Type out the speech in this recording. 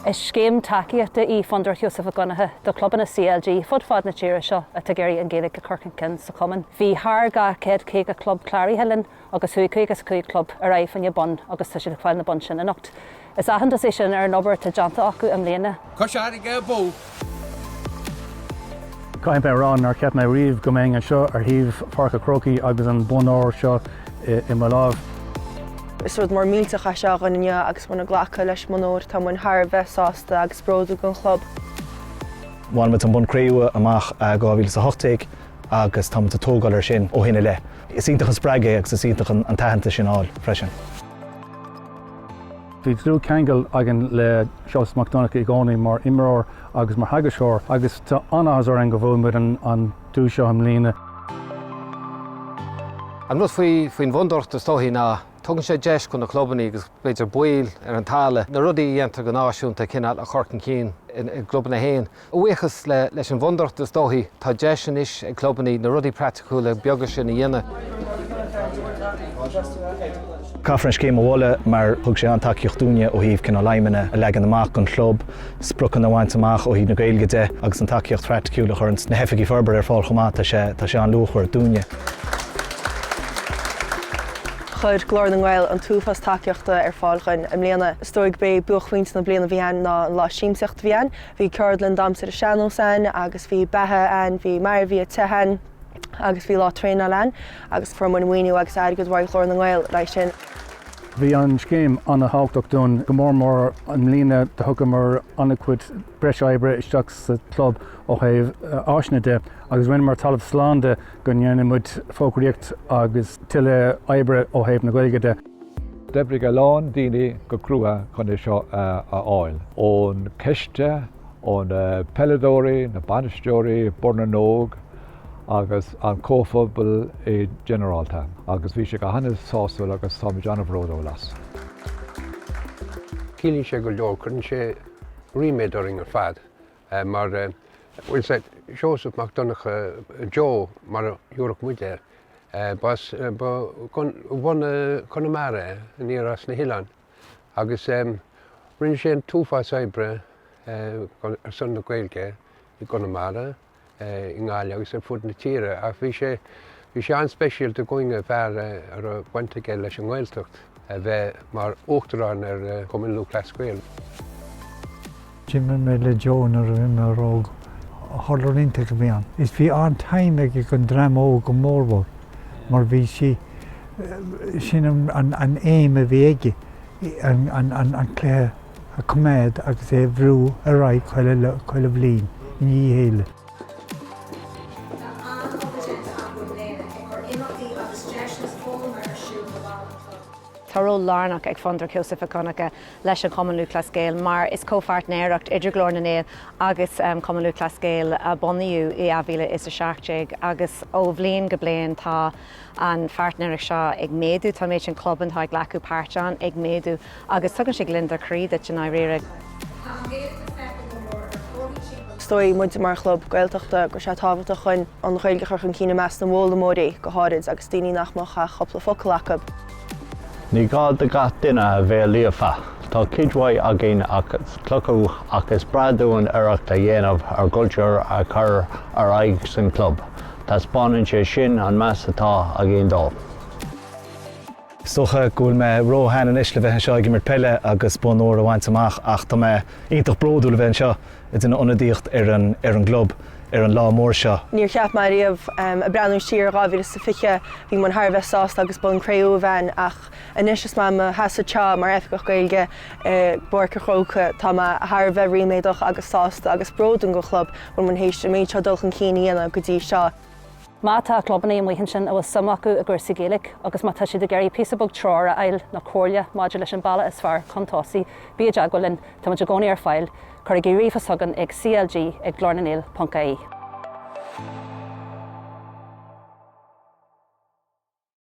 Is scéim tacaíochta í Fondúireacht Sheosaimh Mhic Dhonncha do chlubanna CLG fud fad na tíre seo atá ag iarraidh an Ghaeilge a chur chun cinn sa chumann. Bhí thar 250 club cláraithe linn agus chuaigh 55 club ar aghaidh faoin mbonn agus tá siad ag fáil na boinn sin anocht. Is aitheantas é sin ar an obair atá déanta acu i mbliana. Cois Fharraige Abú. Caithfidh mé a rá nár cheap mé riamh go mbeinn anseo ar thaobh Pháirc a' Chrócaigh agus an bonn óir seo i mo láimh. Is rud mór millteach é seo againn inniu agus muid ag glacadh leis an mbonn óir tá muid thar a bheith sásta agus bródúil den chlub. Bhain muid an bonn cré-umha amach i 2018 agus tá muid ag tógáil air sin ó shin i leith. Is iontach an spreagadh é agus is iontach an t-aitheantas sin a fháil freisin. Bhí dlúthcheangal againn le Seosamh Mac Donncha i gcónaí mar imreoir agus mar theagascóir agus tá an-áthas orainn go bhfuair muid an duais seo i mbliana. An rud faoin bhFondúireacht is dóichí ná tugann sé deis do na clubanna agus b'fhéidir baill ar an talamh na rudaí a dhéantar go náisiúnta a chineál a chur chun cinn i gclubanna héin. A bhuíochas leis an bhfondúireacht, is dóichí, tá deis anois ag clubanna na rudaí praiticiúla beaga sin a dhéanamh. Caithfear an scéim a mholadh mar thug sé an-tacaíocht dúinne ó thaobh cineál aidhmeanna a leagan amach don chlub, spriocanna a bhaint amach ó thaobh na Gaeilge de agus an tacaíocht phraiticiúil a chuireann na hoifigigh forbartha ar fáil chomh maith, tá sé, tá sé an-luachmhar dúinne. Chuir Glór na nGael an t-uafás tacaíochta ar fáil dhúinn i mbliana. Is dóigh, b'é buaicphointe na bliana dhúinn ná an lá siamsaíochta a bhí ann. Bhí ceardlann damhsa ar an sean-nós ann agus bhí beatha ann, bhí maraíocht ann agus bhí lá traenáil ann agus fuair muid maoiniú agus airgead uaidh Ghlór na nGael leis sin. Bhí an scéim an-thábhachtach dúinn, go mór mór i mbliana thugamar an-chuid breis oibre isteach sa chlub ó thaobh áiseanna de agus rinneamar talamh slán de go ndéanfadh muid fógraíocht agus tuilleadh oibre ó thaobh na Gaeilge de. D'oibrigh a lán daoine go crua chun é seo a fháil. ón choiste, ó na peileadóirí, na bainisteoirí, Bord na nÓg agus an comhphobal i ginearálta agus bhí sé go han-sásúil agus táimid an-bhródúil as. Ciallaíonn sé go leor, cuireann sé ríméad orainn ar fad mar tá a fhios a'd, Seosamh Mac Donncha, Joe mar a thabharfadh muid air, b'as bhunadh Chonamara é, aniar as na hoileáin, agus rinne sé an t-uafás oibre ar son na Gaeilge i gConamara, i nGaillimh agus ar fud na tíre ach bhí sé bhí sé an-speisialta dhúinn go mba fear a raibh baint aige leis an nGaeltacht a bheith mar Uachtarán ar Chumann Lúthchleas Gael. D'imir mé le Joe nuair a bhí mé óg, hurler iontach a bhí ann is bhí an-time aige ag an dream óg go mórmhór mar b'in í sin an aidhm a bhí aige. an cluiche a coimeád agus é a bhrú ar aghaidh chuile bhliain i ndiaidh a chéile. Tá ról lárnach ag Fondúireacht Sheosaimh Mhic Dhonncha leis an Chumann Lúthchleas Gael mar is comhpháirtnéireacht idir Glór na nGael agus Cumann Lúthchleas Gael a bunaíodh i 2017 agus ó bhliain go bliain tá an pháirtnéireacht seo ag méadú, tá an méid sin clubanna atá ag glacadh páirt ann ag méadú agus tugann sé gliondar croí duit i ndáiríre. Is dóigh muid mar chlub Gaeltachta go raibh sé tábhachtach dúinn an Ghaeilge a chur chun cinn i measc na bhfoghlaimeoirí go háirid agus daoine nach mbeadh ach cúpla focal acu. Ní gá do gach duine a bheith líofa. Tá cuid mhaith againn as cleachtadh ach is breá dúinn iarracht a dhéanamh ár gcultúr a chur ar aghaidh san club. Taispeánann sé sin an meas atá againn dó. Is dócha go bhfuil mé ró-shean anois le bheith anseo ag imirt peile agus bonn óir a bhaint amach ach tá mé iontach bródúil a bheith anseo ag déanamh ionadaíocht ar an gClub ar an lá mór seo. Níor cheap mé ariamh, ag breathnú siar ar 2020, bhí muid thar a bheith sásta agus bonn cré-umha againn ach anois is mé i mo sheasamh anseo mar Oifigeach Gaeilge i bPáirc a' Chrócaigh. Tá mé thar a bheith ríméadach agus sásta agus bródúil den Chlub go bhfuil muid théis an méid seo dul chun cinn a dhéanamh go dtí seo. Má tá clubannaí amuigh ansin a bhfuil suim acu i gcúrsaí Gaeilge agus má tá siad ag iarraidh píosa beag treoir a fháil nó comhairle maidir leis an bealach is fearr chun tosaigh, bí i dteagmháil linn, táimid i gcónaí ar fáil, cuirigí ríomhphost chugainn ag CLG ag glornangael.ie.